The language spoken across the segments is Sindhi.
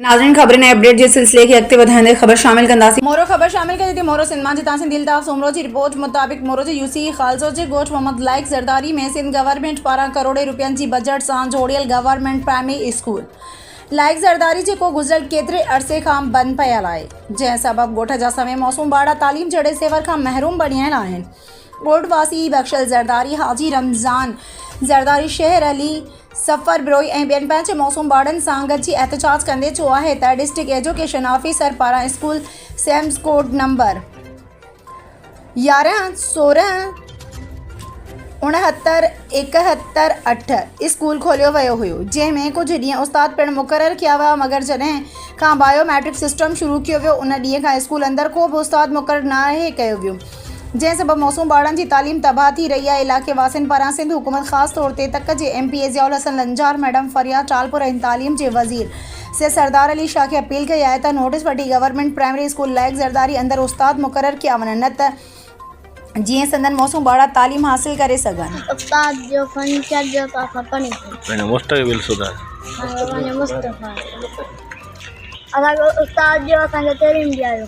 ناظرين خبرن ۽ اپڊيٽ جي سلسلي کي اڳتي وڌائيندي خبر شامل ڪنداسين. مورو خبر شامل ڪجي ٿي مورو سنڌ مان جتان سنڌي الطاف سومرو جي رپورٽ مطابق مورو جي يو سي اي خالصو جي ڳوٺ محمد لائق زرداري ۾ سنڌ گورنمينٽ پاران ڪروڙين رپين جي بجيٽ سان جوڙيل government primary school Laiq Zardari جيڪو گذريل ڪيتري عرصي کان بند پيل آهي جنهن سبب ڳوٺ جا سوين معصوم ٻارڙا تعليم جهڙي زيور کان محروم بڻيل آهن ڳوٺ واسي بخشل زرداري حاجي رمضان زرداري شهر علي سفر بروهي ۽ ٻين پنهنجي معصوم ٻارڙن سان گڏجي احتجاج ڪندي چيو آهي ته ڊسٽرڪٽ ايجوڪيشن آفيسر پاران اسڪول سيمز ڪوڊ نمبر يارهن، سورهن، اڻهتر، ايڪهتر، اٺ اسڪول کوليو ويو هيو جنهن ۾ ڪجهه ڏينهن استاد پڻ مقرر ڪيا ويا مگر جڏهن کان بايو ميٽرڪ سسٽم شروع ڪيو ويو ان ڏينهن کان اسڪول اندر ڪو به استاد مقرر ناهي ڪيو ويو جنهن سبب معصوم ٻارڙن جي تعليم تباهه ٿي رهي آهي علائقي واسين پاران سنڌ حڪومت خاص طور تي تڪ جي M P A Zia ul-Hassan Lanjar madam Fariya Talpur ۽ تعليم جي وزير سيد سردار علي شاهه کي اپيل ڪئي آهي ته نوٽس وٺي government primary school Laiq Zardari اندر استاد مقرر ڪيا وڃن نه ته جيئن سندن معصوم ٻارڙا تعليم حاصل ڪري سگهن. استاد جو فن چرج جو ته اسان پڙهي ڪونه. پنهنجو مستقبل سڌاري. پنهنجو مستقبل. اسان جو استاد جو اسان کي تعليم ڏياريو.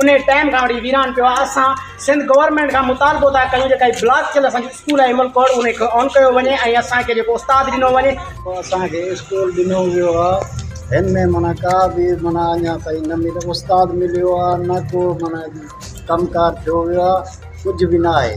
انهي ٽائيم کان وٺي ويران پيو آهي اسان سنڌ گورنمينٽ کان مطالبو ٿا ڪيون جيڪا هي بلاڪ ٿيل اسان جو اسڪول آهي امل ڪوڙ انهي کي آن ڪيو وڃي ۽ اسان کي جيڪو استاد ڏنو وڃي. اسان کي اسڪول ڏنو ويو آ هن ۾ معنيٰ ڪا به معنيٰ اڃا تائين نه مليو استاد مليو آ نه ڪو معنيٰ ڪم ڪار ٿيو ويو آ ڪجهه به نه آهي.